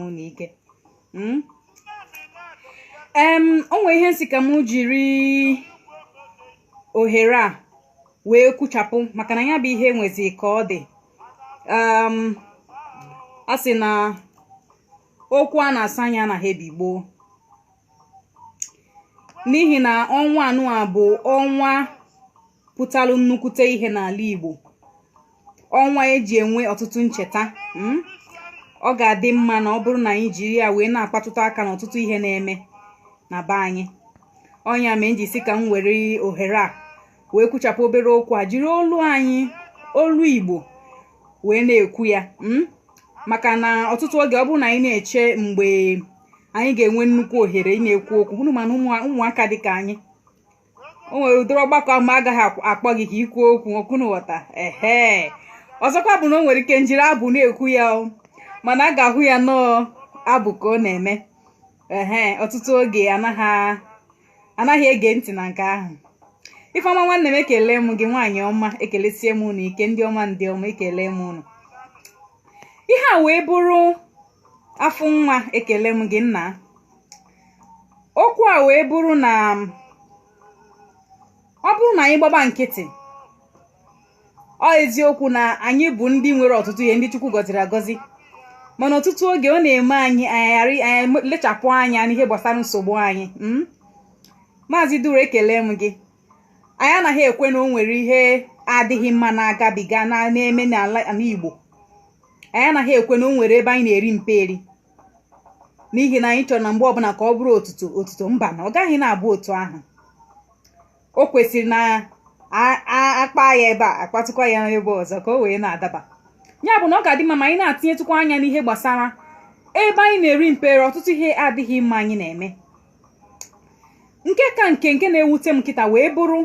unu ike mm? em o nwe ihe m sị ka m jiri ohere a wee kwuchapụ maka na ya bụ ihe nwezi ka ọ dị m a sị na okwu a na-asọ anya anaghị ebi gboo n'ihi na ọnwa anụ a bụ ọnwa pụtalụ nnukwute ihe n'ala Igbo ọnwa e ji enwe ọtụtụ ncheta hmm? ọ ga-adị mma na ọ bụrụ na anyị jiri ya wee na-akpatụtụ aka n'ọtụtụ ihe na-eme na be anyị ọ nya mee m ji sị ka m were ohere a wee kwuchapụ obere okwu a jiri olu anyị olu igbo wee na-ekwu ya hmm? maka na ọtụtụ oge ọ bụrụ na anyị na-eche mgbe anyị ga-enwe nnukwu ohere ị na-ekwu okwu unu ma na ụmụaka dị ka anyị o nwere ụdịrị ọgbakọ ahụ ma agaghị akpọ gị ka i kwuo okwu ọ kwa unu ghọta ehe ọzọkwa bụ na o nwere ike m jiri abụ na-ekwu ya mana a ga-ahụ ya na ọ abụ ka ọ na-eme ehe ọtụtụ oge anaghị ege ntị na nke ahụ ifeọma nwanne m ekele m gị nwaanyị ọma ekelesie m unu ike ndị ọma ndị ọma ekele m unu ihe a wee bụrụ Afụnwa ekele m gị nna okwu a wee bụrụ na ọ bụrụ na anyị gbaba nkịtị ọ eziokwu na anyị bụ ndị nwere ọtụtụ ihe ndị Chukwu gọziri agọzi mana ọtụtụ oge ọ na-eme anyị anyị lechapụ anya n'ihe gbasara nsogbu anyị hmm? maazị duru ekele m gị anyị anaghị ekwe na o nwere ihe adịghị mma na-agabiga na-eme n'ala Igbo anyị anaghị ekwe na o nwere ebe anyị na-eri mperi n'ihi na anyị chọrọ na mgbe ọbụla ka ọ bụrụ otuto otuto mba na ọ gaghị na-abụ otu ahụ o kwesịrị na a kpa ya ebe a a kpatụkwa ya n'ebe ọzọ ka o wee na-adaba ya bụ na ọ ga-adị mma ma anyị na-atinyetụkwa anya n'ihe gbasara ebe anyị na-eri mperi ọtụtụ ihe adịghị mma anyị na-eme nke ka nke nke na-ewute m kịta wee bụrụ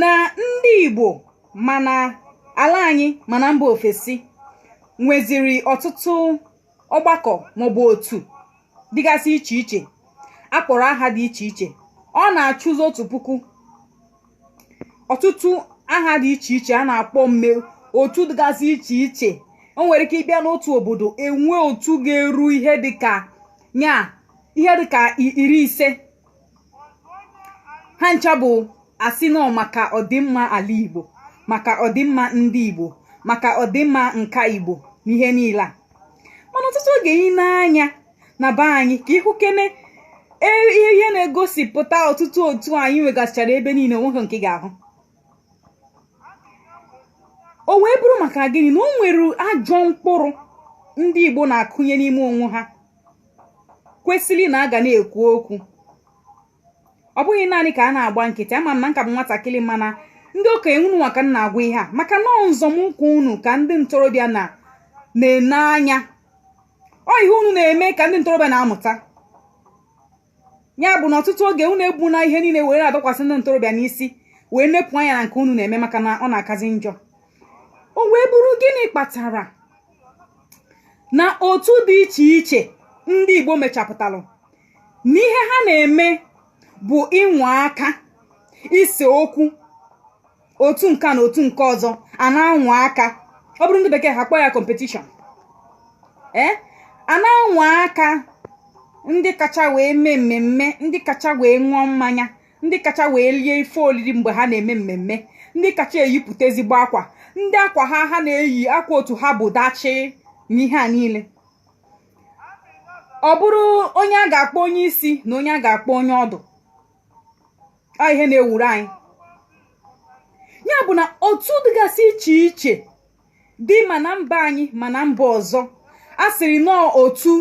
na ndị Igbo ma n'ala anyị ma na mba ofesi nweziri ọtụtụ ọgbakọ maọbụ otu dịgasị iche iche a kpọrọ aha dị iche iche ọ na-achụzi otu puku ọtụtụ aha dị iche iche a na-akpọ mme otu dịgasị iche iche o nwere ike ị bịa n'otu obodo e nwee otu ga-eru ihe dịka nya ihe dịka iri ise ha ncha bụ a sị na ọ maka ọdịmma ala igbo maka ọdịmma ndị igbo maka ọdịmma nka igbo na ihe niile a mana ọtụtụ oge i nee anya na be anyị ka ị hụ kene e- ihe ihe na-egosipụta ọtụtụ otu anyị nwegasịchara ebe niile o nweghị nke ị ga-ahụ o wee bụrụ maka gịnị na o nwere ajọ mkpụrụ ndị igbo na-akụnye n'ime onwe ha kwesịrị na a ga na-ekwu okwu ọ bụghị naanị ka a na-agba nkịtị ama m na m ka bụ nwatakịrị mana ndị okenye unu nwa ka m na-agwa ihe a maka na nzọmụkwụ unu ka ndị ntorobịa na na-ene anya ọ ihe unu na-eme ka ndị ntorobịa na-amụta ya bụ na ọtụtụ oge unu ebuna ihe niile were dọkwasị ndị ntorobịa n'isi wee nepụ anya na nke unu na-eme maka na ọ na-akazi njọ o wee bụrụ gịnị kpatara na otu dị iche iche ndị igbo mechapụtalụ na ihe ha na-eme bụ ịnwa aka ise okwu otu nke a na otu nke ọzọ a na-anwa aka ọ bụrụ ndị bekee ha kpọọ ya competition ee eh? a na-anwa aka ndị kacha wee mee mmemme ndị kacha wee ṅụọ mmanya ndị kacha wee lie ife oriri mgbe ha na-eme mmemme ndị kacha eyipụta ezigbo akwa ndị akwa ha ha na-eyi akwa otu ha bụ ọdachi n'ihe a niile ọ bụrụ onye a ga-akpọ onye isi na onye a ga-akpọ onye ọdụ ọ ihe na-ewuru anyị ya bụ na otu dịgasị iche iche dị ma na mba anyị ma na mba ọzọ a sịrị na ọ otu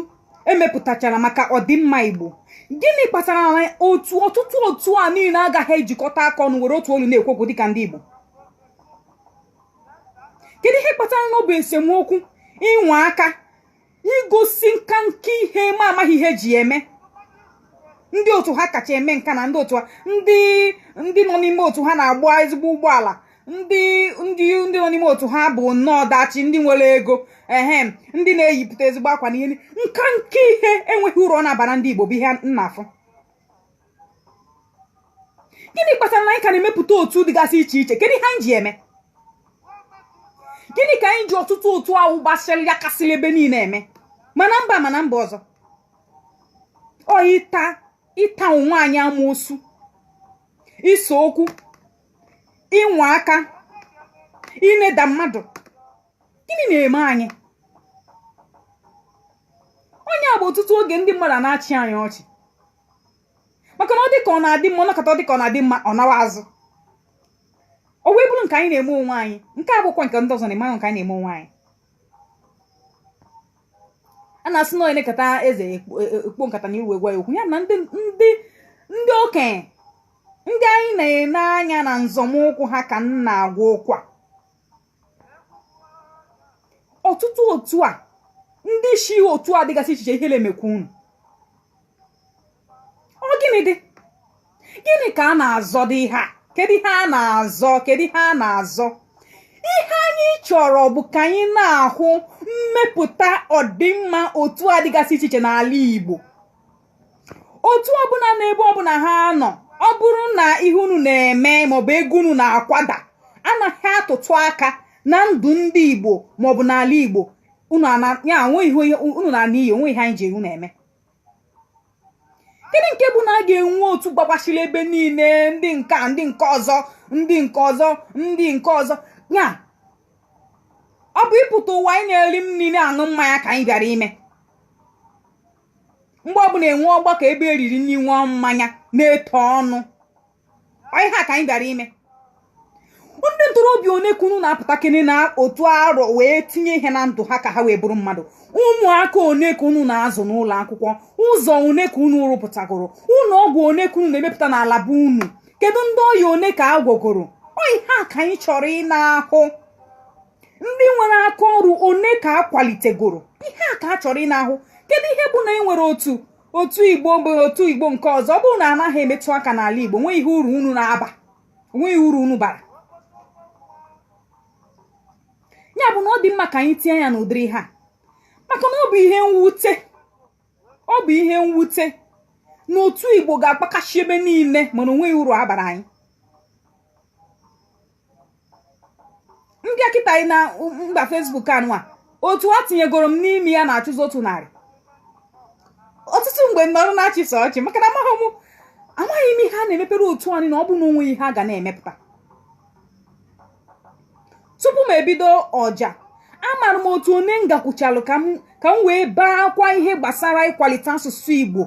e mepụtachara maka ọdịmma igbo gịnị kpatara na otu ọtụtụ otu a niile agaghị ejikọta aka ọnụ were otu olu na-ekwu okwu dịka ndị igbo kedu ihe kpatara na ọ bụ esemokwu ịnwa aka igosi nka nke ihe m amaghị ihe e ji eme ndị otu ha kacha eme nka na ndị otu ha ndị ndị nọ n'ime otu ha na-agba ezigbo ụgbọala ndị ndị ndị nọ n'ime otu ha bụ nnọọ ọdachi ndị nwere ego ehem ndị na-eyipụta ezigbo akwa na ihe nka nke ihe enweghị uru ọ na-abara ndị Igbo bụ ihe m na-afụ gịnị kpatara na anyị ka na-emepụta otu dịgasị iche iche kedu ihe anyị ji eme gịnị ka anyị ji ọtụtụ otu ahụ gbasịrị ya kasịrị ebe niile eme ma na mba ma na mba ọzọ ọ ịta ịta onwe anyị amoosu ise okwu ịnwa aka ịneda mmadụ gịnị na-eme anyị ọ nya bụ ọtụtụ oge ndị mmadụ na-achị anyị ọchị maka na ọ dị ka ọ na-adị mma ọ nakọta ọ dị ka ọ na-adị mma ọ nawa azụ o wee bụrụ nke anyị na-eme onwe anyị nke a bụkwa nke ndị ọzọ na-eme nke anyị na-eme onwe anyị a na-asị na onye nekata eze ekpo nkata n'ihu gwa ya okwu ya na ndị ndị ndị okenye ndị anyị na-ene anya na nzọmụkwụ ha ka m na-agwa okwu a ọtụtụ otu a ndị isi otu a dịgasị iche iche ihere emekwa unu ọ gịnị dị gịnị ka a na-azọ dị ihe a kedu ihe a na-azọ kedu ihe a na-azọ ihe anyị chọrọ bụ ka anyị na-ahụ mmepụta ọdịmma otu a dịgasị iche iche n'ala Igbo otu ọbụla na ebe ọbụla ha nọ ọ bụrụ na ihe unu na-eme maọbụ ego unu na-akwada anaghị atụtụ aka na ndụ ndị igbo maọbụ n'ala igbo unu na ihe onweghị ihe anyị ji unu eme gịnị nke bụ na a ga-enwe otu gbagbachiri ebe niile ndị nke a ndị nke ọzọ ndị nke ọzọ ndị nke ọzọ ya ọ bụ ịpụta ụwa ịna-eri nri na-aṅụ mmanya ka anyị bịara ime mgbe ọbụla e nwee ọgbakọ ebe e riri nri ṅụọ mmanya na-eto ọnụ Ọ ihe a ka anyị bịara ime ndị ntorobịa one ka unu na-apụta kene n'otu arọ wee tinye ihe na ndụ ha ka ha wee bụrụ mmadụ ụmụaka one ka unu na-azụ n'ụlọ akwụkwọ ụzọ one ka unu rụpụtagoro ụlọ ọgwụ one ka unu na-emepụta n'ala be unu kedu ndị ọya one ka a gwọgoro Ọ ihe a ka anyị chọrọ ịna-ahụ ndị nwere aka ọrụ one ka a kwalitegoro ihe a ka a chọrọ ịna-ahụ kedu ihe bụ na e nwere otu otu igbo bụ otu igbo nke ọzọ ọ bụrụ na anaghị emetụ aka n'ala igbo onweghị uru unu na-aba onweghị uru unu bara ya bụ na ọ dị mma ka anyị tinye anya n'ụdịrị ihe a maka na ọ bụ ihe mwute ọ bụ ihe mwute na otu igbo ga-agbakasị ebe niile mana onweghị uru a bara anyị m baa kịta na mba facebook anụwa otu e tinyegoro m n'ime ya na-achụzi otu narị ọtụtụ mgbe m nọrọ na-achị sọ ọchị maka na amaghị m amaghị m ihe a na-emepere otu a niile ọ bụ na onweghị ihe a ga na-emepụta tupu m ebido ọja amara m otu one m gakwuchalụ ka m wee baakwa ihe gbasara ịkwalite asụsụ Igbo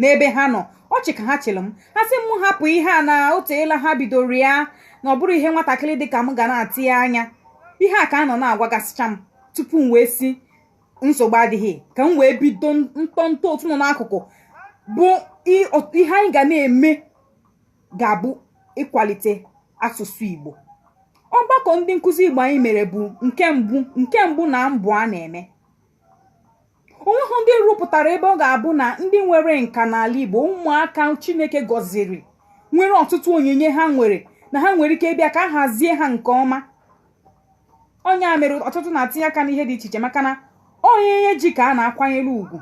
n'ebe ha nọ ọchị ka ha chịrị m ha sị m hapụ ihe a na o teela ha bidoro ya na ọ bụrọ ihe nwatakịrị dị ka m ga na-etinye anya ihe a ka a nọ na-agwagasịcha m tupu m wee sị nsogbu adịghị ka m wee bido ntọntọ otu nọ n'akụkụ bụ ihe anyị ga na-eme ga-abụ ịkwalite asụsụ Igbo ọgbakọ ndị nkụzi Igbo anyị mere bụ nke mbụ nke mbụ na mbụ a na-eme onweghị ndị rụpụtara ebe ọ ga-abụ na ndị nwere nka n'ala Igbo ụmụaka Chineke gọziri nwere ọtụtụ onyinye ha nwere na ha nwere ike ịbịa ka a hazie ha nke ọma onye a mere ọtụtụ na-atinye aka n'ihe dị iche iche maka na onye ji ka a na-akwanyere ugwu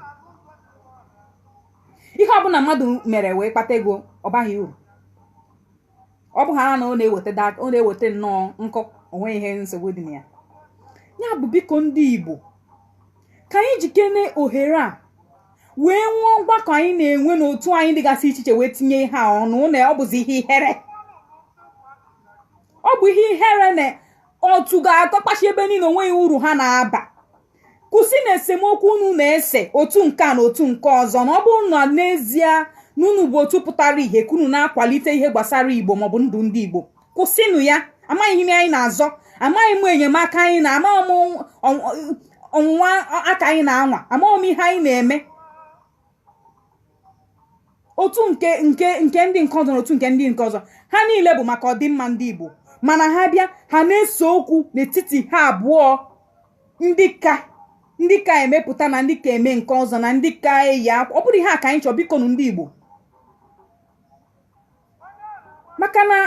ihe ọbụla mmadụ mere wee kpata ego ọ baghị uru ọ bụ ha na ọ na-eweta da- ọ na-eweta nnọọ nkụ onweghị nsogbu dị na ya ya bụ biko ndị igbo ka anyị jikene ohere a wee nwee mgbakọ anyị na-enwe n'otu anyị dịgasị iche iche wee tinye ihe a ọnụ na ọ bụzi ihe ihere ọ bụ ihe ihere na otu ga-akọkpachi ebe niile onweghị uru ha na-aba kwụsịnụ esemokwu unu na-ese otu nke a na otu nke ọzọ na ọ bụrụ na n'ezie na unu bụ otu pụtara ihe ka unu na-akwalite ihe gbasara igbo maọbụ ndụ ndị igbo kwụsịnụ ya amaghị m ihe anyị na-azọ amaghị m enyemaka anyị na amaghị m ọnwụnwa aka anyị na-anwa amaghị m ihe anyị na-eme otu nke nke nke ndị nke ọzọ na otu nke ndị nke ọzọ ha niile bụ maka ọdịmma ndị Igbo mana ha bịa ha na-ese okwu n'etiti ha abụọ ndị ka ndị ka emepụta na ndị ka eme nke ọzọ na ndị ka eyi akwa ọ bụrụ ihe a ka anyị chọọ bikonu ndị Igbo maka na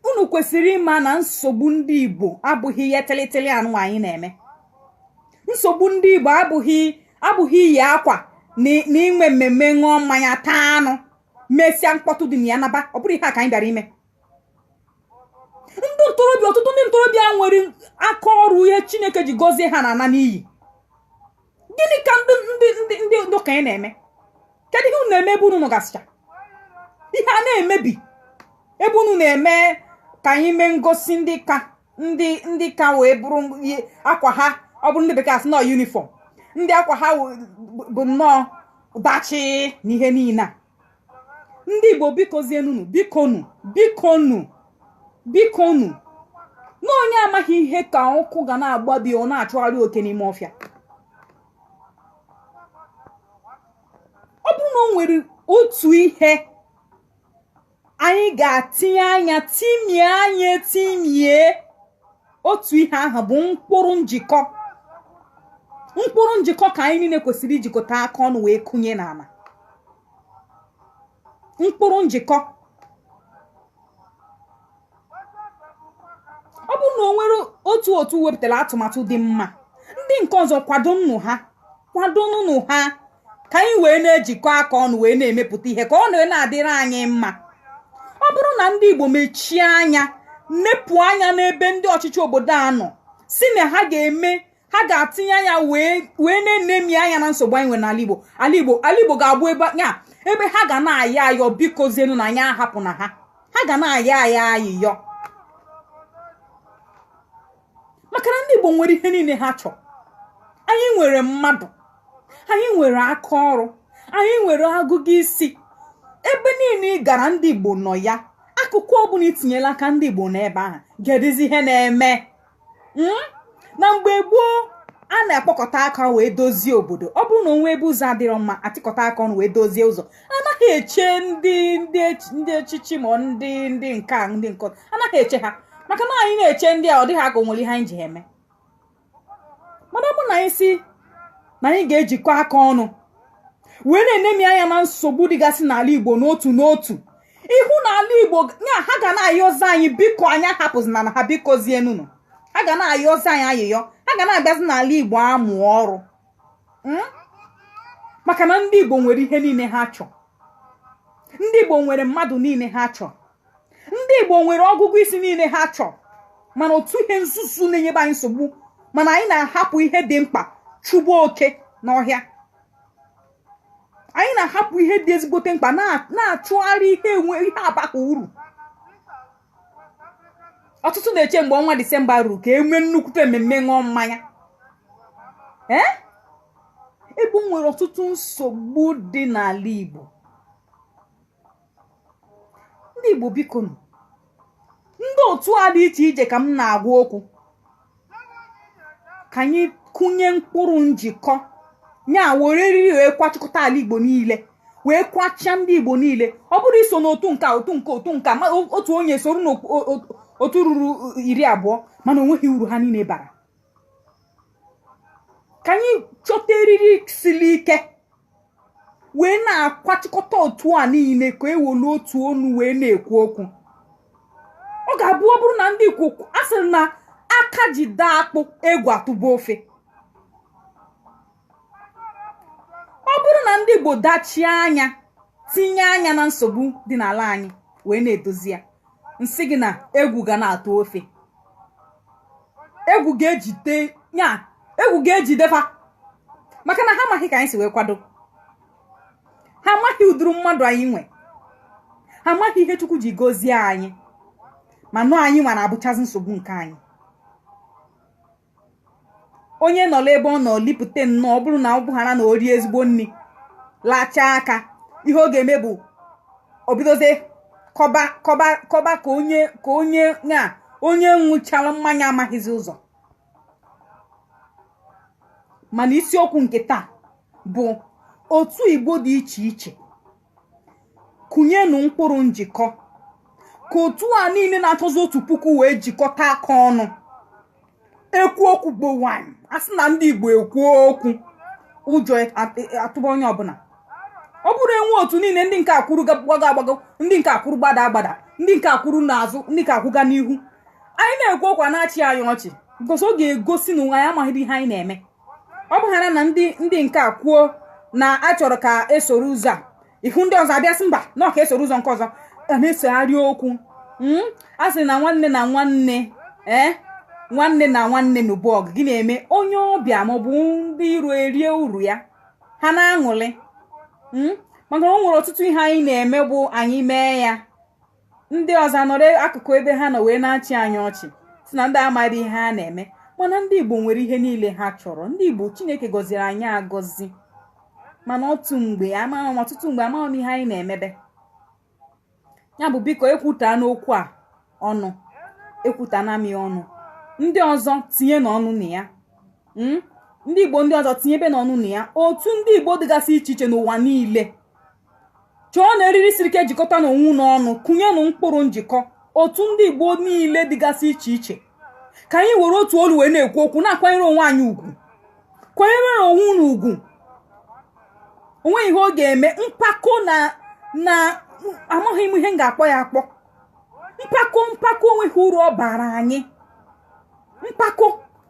unu kwesịrị ịma na nsogbu ndị igbo abụghị ihe tịlịtịlị anụ anyị na-eme nsogbu ndị igbo abụghị abụghị iyi akwa na inwe mmemme ṅụọ mmanya taa anụ mesịa mkpọtụ dị na ya naba ọ bụrụ ihe a ka anyị bịara ime ndị ntorobịa ọtụtụ ndị ntorobịa nwere aka ọrụ ihe chineke ji gọzie ha na-ana n'iyi gịnị ka ndị ndị ndị ndị okenye na-eme kedu ihe unu na-eme ebe unu nọgasịcha ihe a na-emebi ebe unu na-eme ka anyị mee ngosi ndị ka ndị ndị ka wee bụrụ akwa ha ọ bụrụ ndị bekee asị na ọ uniform ndị akwa ha bụ nnọọ dachi na ihe niile a ndị igbo bikozienunu bikonu bikonu bikonu na onye amaghị ihe ka ọkụ ga na-agba be ya ọ na-achụgharị oke n'ime ọfịa ọ bụrụ na o nwere otu ihe anyị ga-atinye anya timie anya timie otu ihe ahụ bụ mkpụrụ njikọ mkpụrụ njikọ ka anyị niile kwesịrị ijikọta aka ọnụ wee kụnye n'ala mkpụrụ njikọ ọ bụrụ na o nwere otu otu wepụtara atụmatụ dị mma ndị nke ọzọ kwadonụ ha kwadonụnụ ha ka anyị wee na-ejikọ aka ọnụ wee na-emepụta ihe ka ọ na na-adịrị anyị mma ọ bụrụ na ndị Igbo mechie anya nepụ anya n'ebe ndị ọchịchị obodo a nọ sị na ha ga-eme ha ga-atinye anya wee na-enemi anya na nsogbu anyị nwere n'ala Igbo ala Igbo ala Igbo ga-abụ ebe ya ebe ha ga na-ayọ ayọ bikozienụ na anyị ahapụna ha ha ga na-ayọ anyị ayịyọ maka na ndị Igbo nwere ihe niile ha chọrọ anyị nwere mmadụ anyị nwere aka ọrụ anyị nwere agụgụ isi ebe niile ị gara ndị Igbo nọ ya akụkụ ọbụla i tinyela aka ndị Igbo n'ebe ahụ kedụzi ihe na-eme hmm? na mgbe gboo a na-akpọkọta aka wee dozie obodo ọ bụrụ na o nwee ebe ụzọ adịrọ mma achịkọta aka ọnụ wee dozie ụzọ anaghị eche ndị ndị ọchịchị ma ndị ndị nke a ndị nke anaghị eche ha maka na anyị na-eche ndị a ọ dịghị ka o nwere ihe anyị ji eme mana ọ bụ na anyị sị na anyị ga-ejikọ aka ọnụ wee na-enemi anya na nsogbu dịgasị n'ala Igbo n'otu n'otu ị hụ n'ala Igbo ya ha ga na-ayọzi anyị biko anyị ahapụzina ha bikozienụnụ ha ga na-ayọzi anyị ayịyọ ha ga na-abịazi n'ala Igbo amụ ọrụ hmm? maka na ndị Igbo nwere ihe niile ha chọ ndị Igbo nwere mmadụ niile ha chọ ndị Igbo nwere ọgụgụ isi niile ha chọ mana otu ihe nzuzu na-enyebe anyị nsogbu mana anyị na-ahapụ ihe dị mkpa chụba oke n'ọhịa anyị na-ahapụ ihe dị ezigbote mkpa na-achụgharị ihe enwe ihe abaghị uru ọtụtụ na-eche mgbe ọnwa disemba ruru ka e mee nnukwute mmemme ṅụọ mmanya ee ebe o nwere ọtụtụ nsogbu dị n'ala igbo ndị igbo bikonụ ndị otu a dị iche iche ka m na-agwa okwu ka anyị kụnye mkpụrụ njikọ ya were eriri wee kwachịkọta ala igbo niile wee kwachịa ndị igbo niile ọ bụrọ iso n'otu nke otu nke otu nke otu onye soro n'otu ruru iri abụọ mana o nweghị uru ha niile bara ka anyị chọta eriri siri ike wee na-akwachịkọta otu a niile ka e welu otu ọnụ wee na-ekwu okwu ọ ga-abụ ọ bụrụ na ndị Igbo a sịrị na aka ji daa akpụ egwu atụba ofe ọ bụrụ na ndị Igbo dachie anya tinye anya na nsogbu dị n'ala anyị wee na-edozi ya m sị gị na egwu ga na-atụ ofe egwu ga-ejide ya egwu ga-ejide fa maka na ha amaghị ka anyị si wee kwado ha amaghị ụdịrị mmadụ anyị nwe ha amaghị ihe chukwu ji gozie anyị mana ọ anyị nwa na-abụchazi nsogbu nke anyị onye nọla ebe ọ nọ lipụta nnọọ ọ bụrụ na ọ bụghara na o rie ezigbo nri lachaa aka ihe ọ ga-eme bụ o bidozie kọba kọba kọba ka onye ka onye na onye ṅụchara mmanya amaghịzi ụzọ mana isiokwu nke taa bụ otu igbo dị iche iche kụnyenụ mkpụrụ njikọ ka otu a niile na-achọzi otu puku wee jikọta aka ọnụ ekwu okwu gbo nwanyị a sị na ndị igbo ekwuo okwu ụjọ atụba onye ọbụla ọ bụrụ e nwee otu niile ndị nke a kwụrụ gbago agbago ndị nke a kwụrụ gbada agbada ndị nke a kwụrụ n'azụ ndị nke a kwụga n'ihu anyị na-ekwu okwu a na-achị anyị ọchị gosi ọ ga-egosi na onwe anyị amaghịdị ihe anyị na-eme ọ bụghara na ndị ndị nke a kwuo na a chọrọ ka e soro ụzọ a ị hụ ndị ọzọ abịa sị mba na ọ ka e soro ụzọ nke ọzọ a na-esegharị okwu Mm? a sị na nwanne na nwanne ee nwanne na nwanne nụba ọgụ gịnị emee onye ọbịa maọbụ ndị iro erie uru ya ha na-aṅụlị Mm? maka na o nwere ọtụtụ ihe anyị na-eme bụ anyị mee ya ndị ọzọ anọrọ akụkụ ebe ha nọ wee na-achị anyị ọchị sị na ndị a amaghị ihe ha na-eme mana ndị igbo nwere ihe niile ha chọrọ ndị igbo chineke gọziri anyị agọzi mana otu mgbe amaghị m ọtụtụ mgbe amaghị m ihe anyị na-emebe ya bụ biko ekwutana m okwu a ọnụ ekwutana m ya ọnụ ndị ọzọ tinyenụ ọnụ na ya hmm? ndị igbo ndị ọzọ tinyebenụ ọnụ na ya otu ndị igbo dịgasị iche iche n'ụwa niile chọọnụ eriri siri ike jikọtanụ onwe unu ọnụ kụnyenụ mkpụrụ njikọ otu ndị igbo niile dịgasị iche iche ka anyị were otu olu wee na-ekwu okwu na-akwanyere onwe anyị ugwu kwanyere onwe unu ugwu o nweghị ihe ọ ga-eme mpako na na amaghị m ihe m ga-akpọ ya akpọ mpako mpako o nweghị uru ọ bara anyị mpako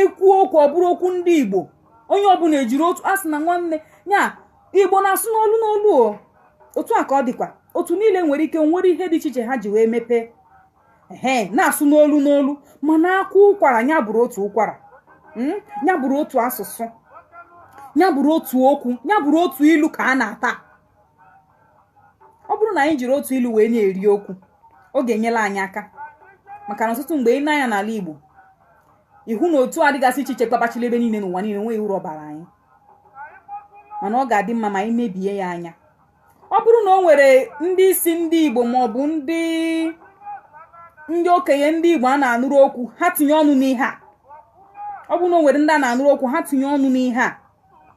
ekwuo okwu ọ bụrụ okwu ndị igbo onye ọbụla ejiri otu a sị na nwanne ya igbo na-asụ n'olu n'olu ọ otu a ka ọ dịkwa otu niile nwere ike o nwere ihe dị iche iche ha ji wee mepee ee na-asụ n'olu n'olu mana a kwaa ụkwara ya bụrụ otu ụkwara hmm? ya bụrụ otu asụsụ ya bụrụ otu okwu ya bụrụ otu ilu ka a na-ata ọ bụrụ na anyị jiri otu ilu wee na-eri okwu ọ ga-enyere anyị aka maka na ọtụtụ mgbe i lee anya n'ala Igbo ị hụ na otu dịgasị iche iche kpakpachiri ebe niile n'ụwa niile nweghị uru ọ baara anyị mana ọ ga-adị mma ma anyị leba ya anya ọ bụrụ na o nwere ndị isi ndị Igbo ma ọ bụ ndị ndị okenye ndị Igbo a na-anụrụ okwu ha tinye ọnụ n'ihe a ọ bụrụ na o nwere ndị a na-anụrụ okwu ha tinye ọnụ n'ihe a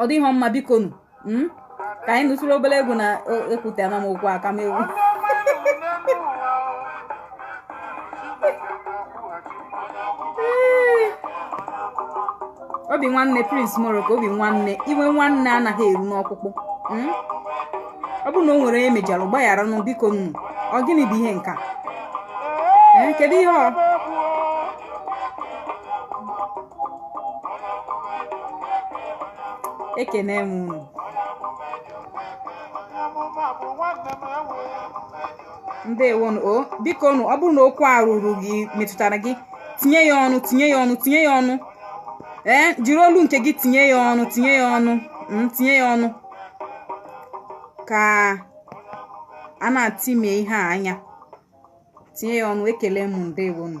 ọ dịghị mma biko nụ hmm? ka anyị nụtụrụ obere egwu na-ekwute ama m okwu aka m egwu obi nwanne Prince Morocco obi nwanne iwe nwanne anaghị eru n'ọkpụkpụ hmm? ọ bụrụ na o nwere onye mejọrọ gbaghara nụ biko nụ ọ gịnị bụ ihe nke a eh, kedu ihe ọ ekene m unu ndewonu o biko nụ ọ bụrụ na okwu a ruru gị metụtara gị tinye ya ọnụ tinye ya ọnụ tinye ya ọnụ ee jiri olu nke gị tinye ya ọnụ tinye ya ọnụ mm, tinye ya ọnụ ka a na-ati mee ihe a anya tinye ya ọnụ ekele m ndewonu